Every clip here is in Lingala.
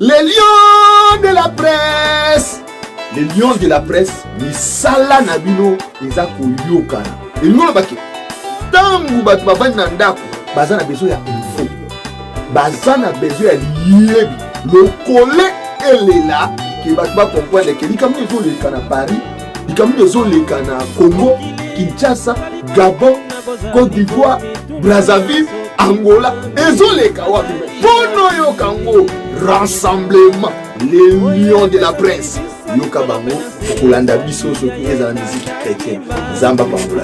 Les lions de la presse Les lions de la presse misala na bino eza koyokana elingi oloba ke ntango bato bavandi na ndako baza na besoin ya info baza na besoin ya liyebi lokole elela ke bato bakomprendre ke likambo ezoleka na paris likambo ezoleka na congo kinshasa gabon cote d'ivoire brazzaville angola ezoleka wapi mpo noyoka yango rassemblement les lions de la presse yoka bango okolanda biso soki ezala miziki chrétien nzambe apambola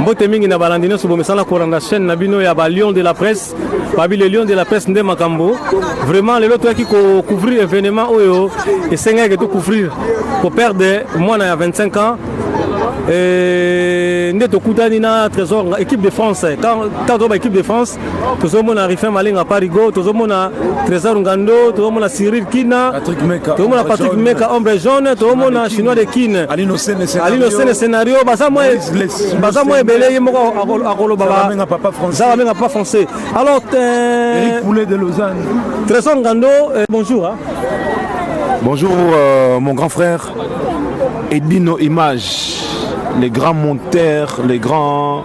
mbote mingi na balandi nyonso bomesana kolanda chaîne na bino ya ba lion de la presse babi le lion de la presse nde makambo vraiment lelo toyaki kocouvrir événement oyo esengaki tocouvrir koperde mwana ya 25 ans nde tokutani na trésor équipe de france quand toba équipe de france tozomona rifin malenga parigo tozomona trésor ngando tozomona cyril kina tozomona patrick meka ombre jaune tozomona chinois de kine alino sene scénario baza mwa ebele ye moko akoloba babenga papa français alors euh, trésor ngando euh, bonjour bonjour euh, mon grand frère edino image les grands monteurs les grands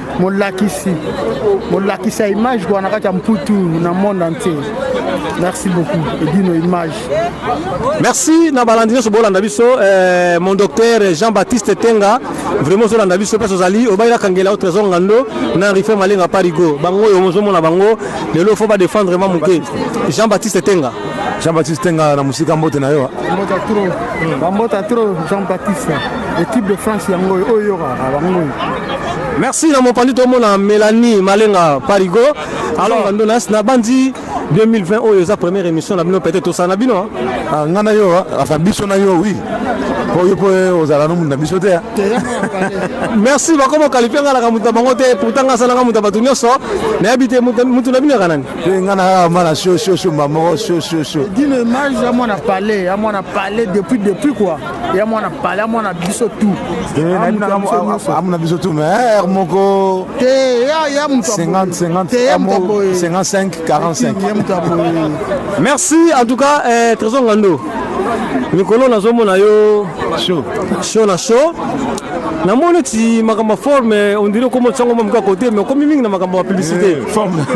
molakisi molakisa image kwa na kati ya mputu na monde entier merci beaucoup edino image merci na balandi nyonso bolanda biso eh, mon docteur jean baptiste tenga vraiment ozolanda biso place ozali obayela kangela o trésor ngando na rife malenga parigo bango oyo ozomona bango lelo fo badefendre ma moke jean baptiste tenga jean baptiste tenga na mosika mbote na yo bambota tro jean baptiste L'équipe de France yango oyo yoka bango. Merci na mopandi tomona Mélanie Malenga Parigo. Alors bando na na bandi 2020 oyo eza première émission na bino peut-être tosana bino. Hein. Ah nga na yo, enfin hein. biso na yo oui. oyo mpo ozala no moto na biso te merci bakoma okalifi nga naka moto na bango te pourtant nga asalanga moto ya bato nyonso nayebi te moto na bino yaka nani mpe nga nakaka mwana sio sio sio mbamoko sio sio sio dino image ya mwana palais ya mwana palais depuis depuis quoi ya mwana pale ya mwana biso tu amuna biso tu mais heure moko te ya moto 50 50 55 45 merci en tout cas eh, trésor ngando mikolo nazomona yo show na show namoni neti makambo ya forme ondire okoma otiango mwa moka kote mais okomi mingi na makambo ya publicité eh,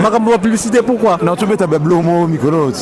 makambo ya publicité pourquoi na tobeta bablo mo mikolo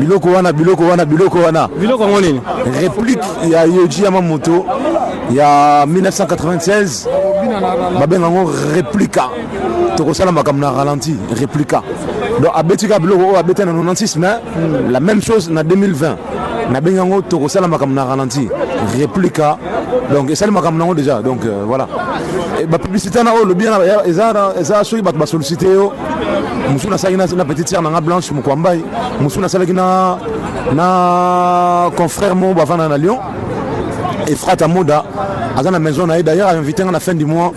biloko wana biloko wana biloko wana biloko yango nini replique ya yoji ya mamoto ya 1996 babenga yango replika tokosala makambo na ralenti replika donc abeti kaka biloko oyo abeti na 96 mais hmm. la même chose na 2020 nabengi yango tokosala makambo na ralenti replika donc esali makambo na yango déjà donc euh, voilà bapublicité na oyo olobi eza soki bato basollicite yo mosusu nasalaki na, na petite sœur na nga blanche mokwambai mosusu nasalaki na, na confrère moko bavanda na lyon efrata moda aza na maison na ye d'ailleurs ainvite nga na fin du mois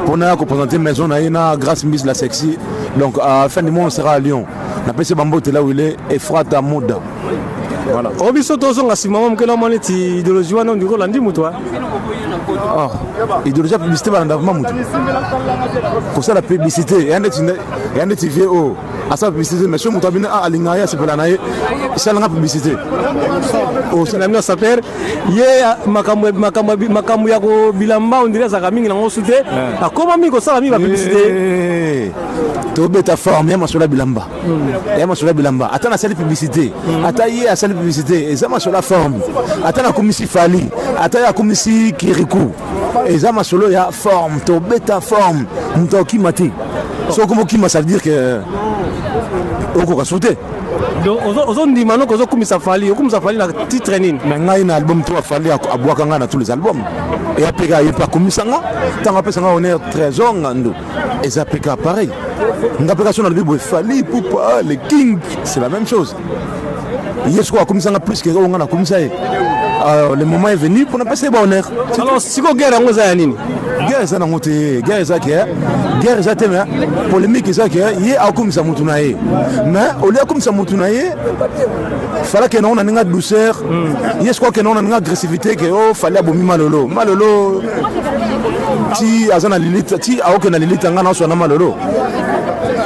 mpo naya kopresente maison na ye na grâce mbis la sexy donc à fin du mois on sera à lyon napesi bambote là où il est efrata moda Voilà. Oh, biso tozonga nsima mwa moke namoni ti idéologie wana ondiki olandi moto wa ah, idéologie ya publicité balanda vraimen moto kosala publicité ya ndeti vie oyo oh. asala publicité mais so moto abino ah, alinga ye asepela na ye esalanga publicité osala oh, mino saper ye makambo ya kobilamba ondiri azalaka mingi nango su te eh. akoma mingi kosala mingi bapublicité eh. tobeta forme ya masolo ya bilamba ya masolo ya bilamba ata nasali publicité ata ye asali publicité eza masolo ya forme ata nakumisi fali ata ye akumisi kiriku eza masolo ya forme tobeta forme moto akokima te soki okoma okima ça veut dire que okoka so te ozondima noki ozokumisa fali okumisa fali na titre nini na ngai na album to afali abwaka ngai na tous les albums eya mpe ka ye mpe akumisa nga ntango apesa nga honneur trésor ngandu eza mpe ka pareil nga mpe kasi nalobi boye fali pupa le king c'est la même chose ye sikoyo akomisa nga plus ke oyo nga nakomisa ye ah, le moment est venu mpo napesa ye bahonneur alors sikoyo guerre yango eza ya nini guerre eza nango te guerre eza ke guerre eza te me polémique eza ke ye akomisa motu na ye mais olie akomisa motu na ye fala kende ngo na ndenge ya douceur hmm. ye sikoyo kende ngo na ndenge agressivité ke o oh, fali abomi malolo malolo ti aza na lilita ti aokenda lilita ngai naoswa na malolo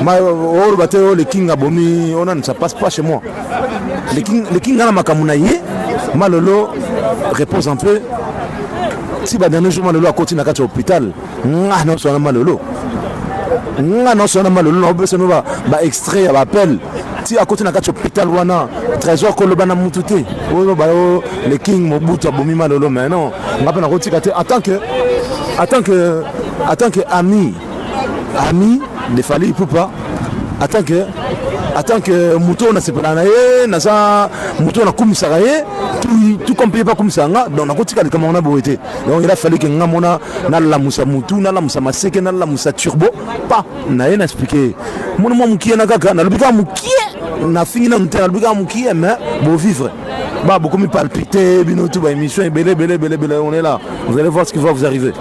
oloba oh, te o oh, le king abomi onani ça passe pas chez moi le king ngai na makambo na ye malolo repose un peu ti badanne jour malolo akoti na kati ya hôpital nga na sona malolo nga na sona malolo na obesa no ba ba extrait ya ba appel ti akoti na kati hôpital wana trésor koloba na mutu te oyo ba yo le king mobutu abomi malolo mais non nga pe na kotika te en tant que en tant que en tant que ami ami de Fally Ipupa en tant que en tant que moto oyo nasepela na ye naza moto oyo nakumisaka ye tout comme mpe ye mpe akumisaka nga donc nakotika likambo yango na boye te donc il a fallu que nga mona nalamusa mutu nalamusa maseke nalamusa turbo pa na ye na explike mona mwa mokie na kaka nalobi kaka mokie nafingi nanu te nalobi kaka mokie mais bovivre ba bokomi palpite bino tu ba émission ebele ebele ebele ebele on est là vous allez voir ce qui va vous arriver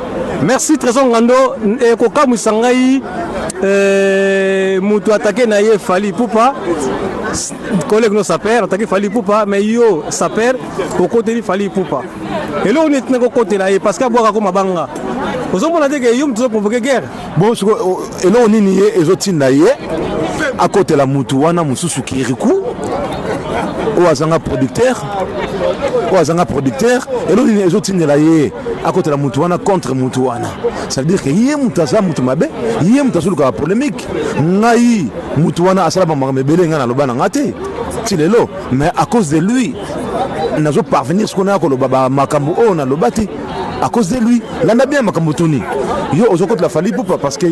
merci trésor ngando ekokamwisa ngai eh, moto atake na ye fali pupa collègue no saper atake fali pupa mais yo saper okoteli fali pupa eloko neti na kokotela ye parce que abwaka ko mabanga ozomona te ke yo moto ozoprovoke guerre bon siko eloko nini ye ezotinda ye akotela motu wana mosusu kiriku oyo azanga producteur oyo azanga producteur eloko nini ezotindela ye akotela motu wana contre motu wana ça veut dire ke ye moto aza moto mabe ye moto azolukaka polémique ngai motu wana asala bamaka mebele ngai naloba na ngai te ti lelo mais à cause de lui nazo parvenir ce qu'on a koloba ba makambo oyo na lobati à cause de lui landa bien makambo tuni yo ozo kotela fali pupa parce que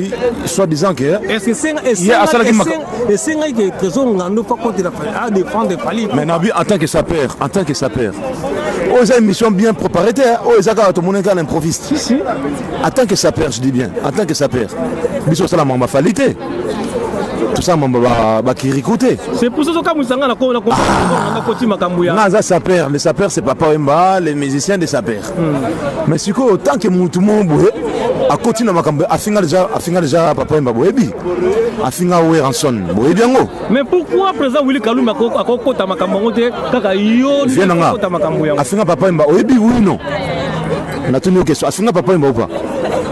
soit disant que est-ce que senga asalaki esenga ke trésor ngando pa kotela fali a défendre fali mais nabi en tant que sapeur en tant que sapeur oyo eza émission bien préparée te oyo eza kaka tomoni kaka na improviste en tant que sapeur je dis bien en tant que sapeur biso osala makambo afali te tosa mambo bakiriku te c'est pour ça tokamwisa nga nakoyanga ah. koti makambo ya nga aza saper le saper c'est papa wemba le musicien de saper hmm. mais sikoyo tant que motu moko boye akoti na makambo afinga deja afinga deja papa wemba boyebi afinga weranson boyebi yango mais pourquoi président willi kalumbi akokota makambo yango te kaka yo afinga papa wemba oyebi oui non Natuni yo question, afinga Papa Wemba ou pas?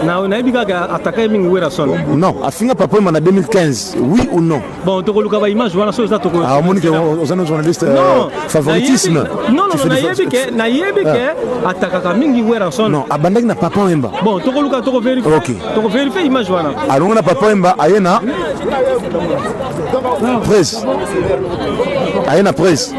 na nayebi kaka atakaye mingi werrason non afinga papa ma na 2015 oui ou non bon tokoluka ba image wana soki eza tokomoni ke oza na journaliste euh, favoritisme non non nayebi ke nayebi ah. ke atakaka mingi werrason non abandaki na papa wemba bon tokoluka tokoverifie okay. tokoverifie image wana alongo na papa wemba aye na presse aye na presse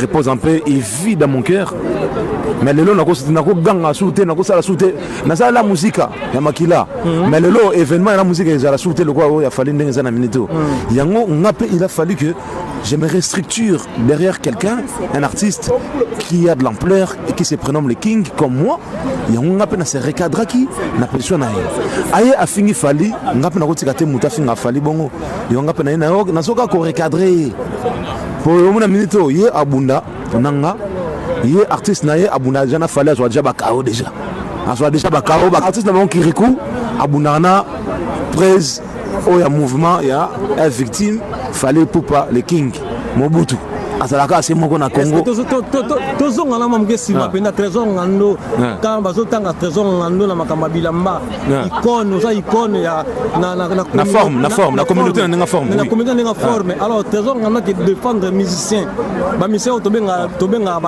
repose en paix et vie dans mon cœur mais lelo nakoganga suu te nakosala suu te nasala la musika ya makila mhm. mais lelo événement ya la musika ezala suu te lokola oyo ya fali ndenge eza na minute oyo mhm. yango nga mpe il a fallu que je me restructure derrière quelqu'un un artiste qui a de l'ampleur et qui se prénomme le king comme moi yango nga mpe na se recadraki na position na ye aye afingi fali nga mpe nakotika te moto afinga fali bongo yo nga mpe naye nayo nasoka korecadre ye mpo omona minute oyo ye abunda na nga ye artiste na ye abunda deja na fali azwa deja bakao deja azwa deja bakao baartiste na bango kiriku abundaka na prise oyo ya mouvement ya ya victime fali pupa le king mobutu azalaka ase moko na congo tozongana mwa moke nsima mpenza trésor ngando ntango bazotanga trésor ngando na makambo ya bilamba Ah. icône oza icône ya na forme na forme na communauté na ndenge forme na communauté na ndenge ah. forme alors trésor ngana ke défendre musicien ba musicien oyo tobenga tobenga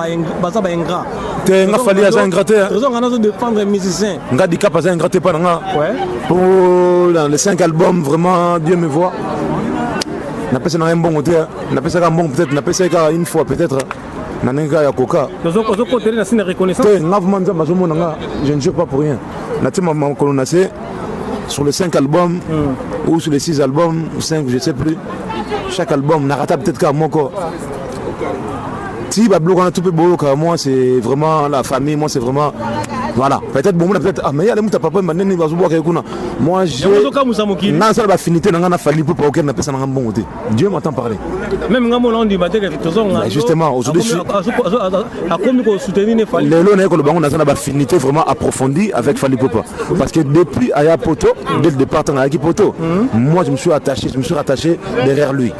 baza ba ingrat te nga fali aza ingrat te hein. trésor ngana zo défendre musicien nga dicap aza ingrat te pa na nga ouais pour les 5 albums vraiment Dieu me voit napesa na ye mbongo te napesaka mbongo peut-être napesa ye kaka une fois peut-être na ndenge kaka ya koka ozokotele na sina reconnaissance te nga vraimen nzambe azomona nga je ne joue pas pour rien natie makolo na se sur les 5 albums mm. ou sur les 6 albums 5 je sais plus chaque album narata peut-être kaka moko ti babiloko wana to mpe boyoka moi c'est vraiment la famille moi c'est vraiment voilà peut-être bomona peut-être ah mais ale muta papa mba nini bazobwaka ye kuna moi je nasala bafinité na ngai na fali mpo paokere napesa na ngai mbongo te Dieu m'entend parler. Même ngambo na ndima te que tozonga. Mais justement, aujourd'hui je akomi ko soutenir ne Fally. Lelo na ko lobango na zana ba finité vraiment approfondie avec Fally Popa parce que depuis Aya Poto, dès le départ à Aki Poto, hmm. moi je me suis attaché, je me suis rattaché derrière lui.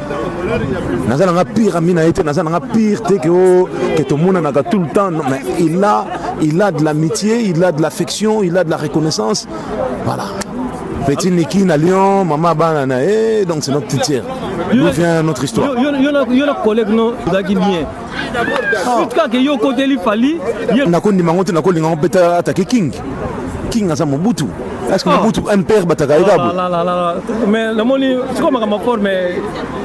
Nazana nga pire ami na été, nazana nga pire te que oh, que tout le monde n'a tout le temps mais il a il a de l'amitié, il a de l'affection, il a de la reconnaissance. Voilà. Petit Niki na Lyon, maman bana na eh donc c'est notre titière. D'où vient notre histoire Yo yo na yo na collègue non, daki bien. Ah. Tout cas que yo côté li fali, na ko ndima ngote na ko linga peta attaquer King. King aza Mobutu. Est-ce que ah. Mobutu MPR bataka oh ekabu La la la la. Mais le moni, c'est comme ma forme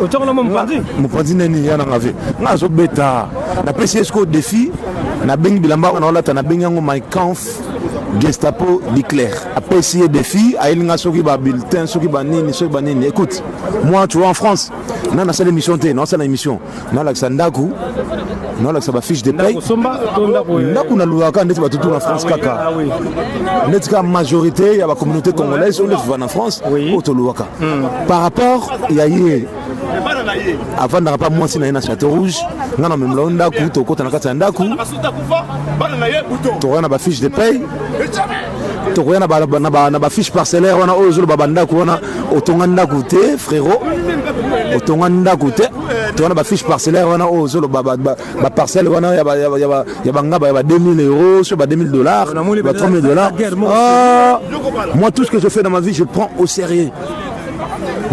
au tchoko na mon pandi. Mon pandi nani yana ngave. Ngazo beta. Na pesi esko défi na bengi bilamba na olata na bengi yango my conf Gestapo Leclerc apesi ye défi ayeli nga soki ba bulletin soki ba nini soki ba nini écoute moi tu vois en France na nasala émission te na nasala émission nalakisa ndako nalakisa bafiche de paye ndako nalukaka ndeti batutu na france kaka ndeti kaka majorité ya bacommunauté congolaise oyo ndetuva na france oyo tolukaka par rapport ya ye afandaka mpa mwasi na ye na chateau rouge ngai namemela yo ndako tokota na kati ya ndako tokoya na bafiche de paye tokoya na bafiche parcellaire wana oyo ozoloba bandako wana otonga ndako te frero otonga ndako te towana bafiche parcellaire wana oyo ozoloba baparcelle wana ya bangaba ya ba 2000 euros sur ba 2000 dollars ba 3000 dollars ah, moi tout ce que je fais dans ma vie je prends au sérieux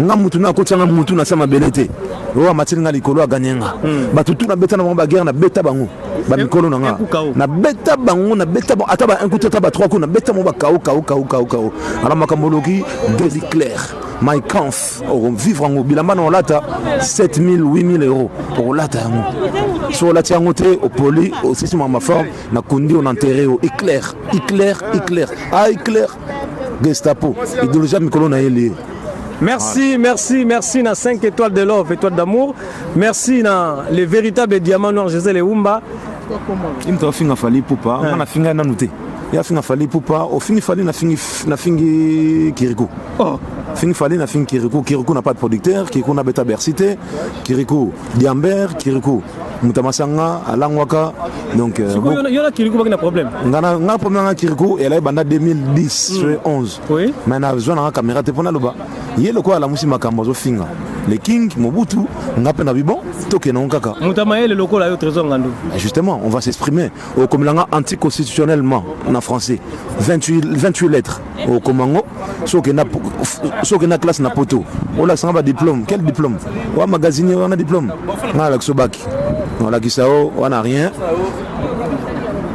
nga mutu na akotia nga mutu na se mabele te oyo amatili nga likolo aganye nga hmm. bato tu nabeta na bango baguerre nabeta bango bamikolo na nga nabeta bango nabeta bango ata ba inkuti ata ba trois ko nabeta bango bakao kao kao kao kao ala makambo oloki deli claire my canf okovivre yango bilamba na olata 7000 8000 euro okolata yango so olati yango te opoli osisi mwa maforme nakundi ona ntere yo eclaire eclaire eclaire a eclaire Gestapo, ideologie ya mikolo na ye liye. Merci, merci, merci na 5 étoiles de love, étoiles d'amour. Merci na les véritables diamants noirs José Leumba. Ye moto afinga fali pupa, nga nafinga nanu te. Ye afinga fali pupa, ofingi fali nafingi nafingi Kirikou. Oh. Fingi fali nafingi Kirikou, Kirikou na pas de producteur, Kirikou na beta Bercy te, Kirikou Diamber, Kirikou muta masanga alangwaka donc euh, bon, yo na kiriku baki na problème ngana nga problème nga kiriku elle est banda 2010 mm. 11 oui mais na besoin na caméra te pona loba ye lokola alamusi makambo azo finga le king mobutu nga pe na bibon tokende ngo kaka muta mayele lokola yo trésor ngandu eh, justement on va s'exprimer okomela nga anticonstitutionnellement na français 28, 28 lettres okoma yango soki okenda na classe na poto olakisanga badiplome quel diplome oya magazini wana diplome ngai alakisa obaki olakisa o wana rien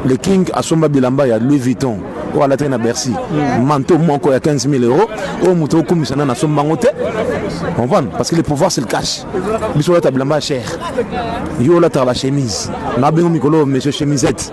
le king asomba bilamba ya louis vuitton oyo alataki na bercy mm. manto moko ya 15 000 euro oyo moto okumisa nani asomba yango te comprendre parce que le pouvoir c'est le cash biso olata bilamba ya cher yo olataka bachemise nabengo mikolo monsieur chemisette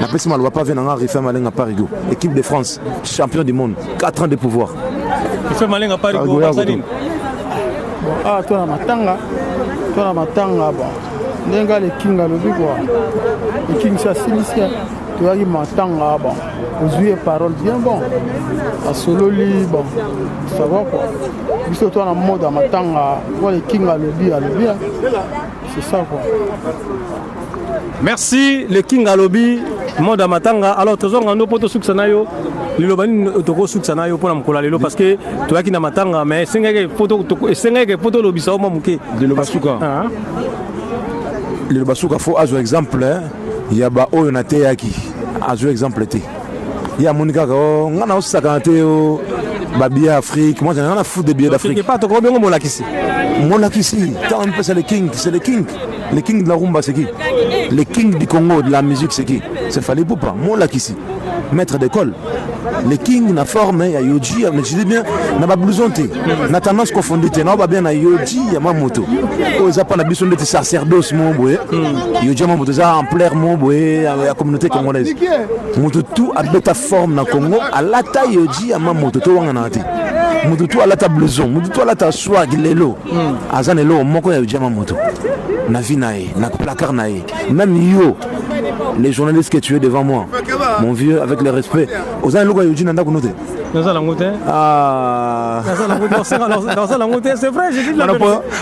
napesi maloba pave na nga refin malenga parigo équipe de france champion du monde 4 ans de pouvoir refin malenga parigo asalini awa ah, to na matanga to na matanga ba ndenge alekinga alobi kua ekingisa asilisi toyaki matanga ba ozwi ye parole bien bon asololi bon sava kua biso to na mode ya matanga po alekinga alobi alobi c'est ça kua Merci le king alobi monde matanga alors tozonga ndo mpo tosukisa na yo liloba nini tokosukisa na yo mpo na mokolo ya lelo parce que toyaki na matanga mais esengaki esengaki mpo tolobisa yo mwa moke liloba suka ah. liloba suka fo azwa exemple eh, ya baoyo nateyaki azwa exemple te ye amoni kaka o oh, ngai naosakana te o oh, babiye ya afrique moi ngai na foot de biye d'afrique pas tokobi yango molakisi molakisi ntango mipesa le king c'est le king Le king de la rumba c'est qui Le king du Congo de la musique c'est qui C'est Fally Poupa, mon lakisi, maître d'école. Le king na forme ya Yoji, mais je dis bien na ba blouson te, na tendance confondue te, na ba bien na Yoji ya ma moto. Oyo eza pa na biso ndeti sacerdoce mo boye. Yoji ya ma moto eza ampleur mo boye ya ya communauté congolaise. Moto tout abeta forme na Congo, alata Yoji ya ma moto to wanga na te. Moto tout alata blouson, moto tout alata swag lelo. hmm. aza na eloko moko ya ojama moto na vie na ye na placard na ye même yo les journalistes que tu es devant moi mon vieux avec le respect oza na eloko ya yoji na ndako no te naza nango te ah. naza nango te c'est vrai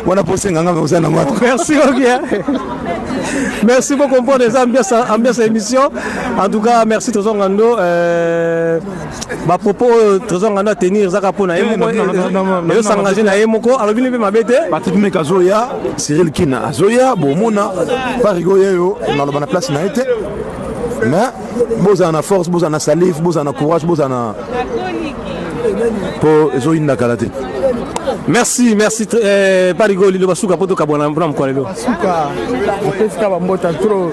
wana posenga nga oza nango merci bien merci bocomprendre eza ambiance ya émission en tout cas merci tozongando euh, ba propos oyo trésor ngando atenir ezaka mpo na ye moko eyosangaje na ye moko alobini mpe mabe te patrick meke azoya cyril kina azoya bomona parigo yeyo naloba na place na ye te mais bozala na force bozala na salive bozala na courage bozala na mpo ezoyinda kala te merci merci eh, parigo liloba suka mpo tokabwana mpona mokolo lelo suka apesika bambota trop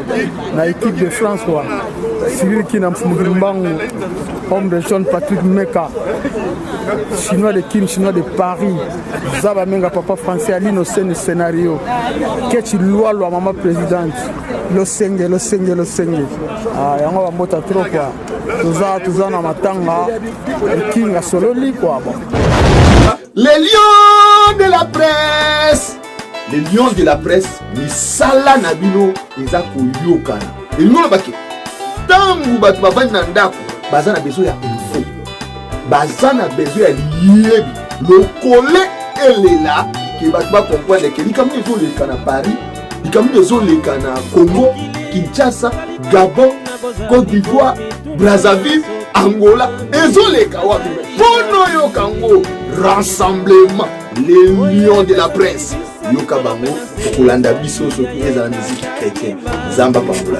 na équipe de france wa Cyril Kina Mfumuki Mbangu, homme de John Patrick Meka, chinois de Kin, chinois de Paris, Zaba Menga, papa français, Ali Noseni scénario, Ketchi Lualua, maman présidente, Losenge, Losenge, Losenge. Ah, yango ba mota trop quoi. Toza toza na matanga, le king asololi quoi. Bon. Les lions de la presse Les lions de la presse misala na bino eza koyokana elingi oloba ke ntango bato bavandi na ndako baza na besoin ya info baza na besoin ya liyebi lokole elela ke bato bakomprendre ke likambo ezoleka na paris likambo ezoleka na congo kinshasa gabon cote d'ivoire brazzaville angola ezoleka wapi mpo noyoka yango rassemblement les lions de la presse yoka bango okolanda biso soki ezala miziki chrétien nzambe apambola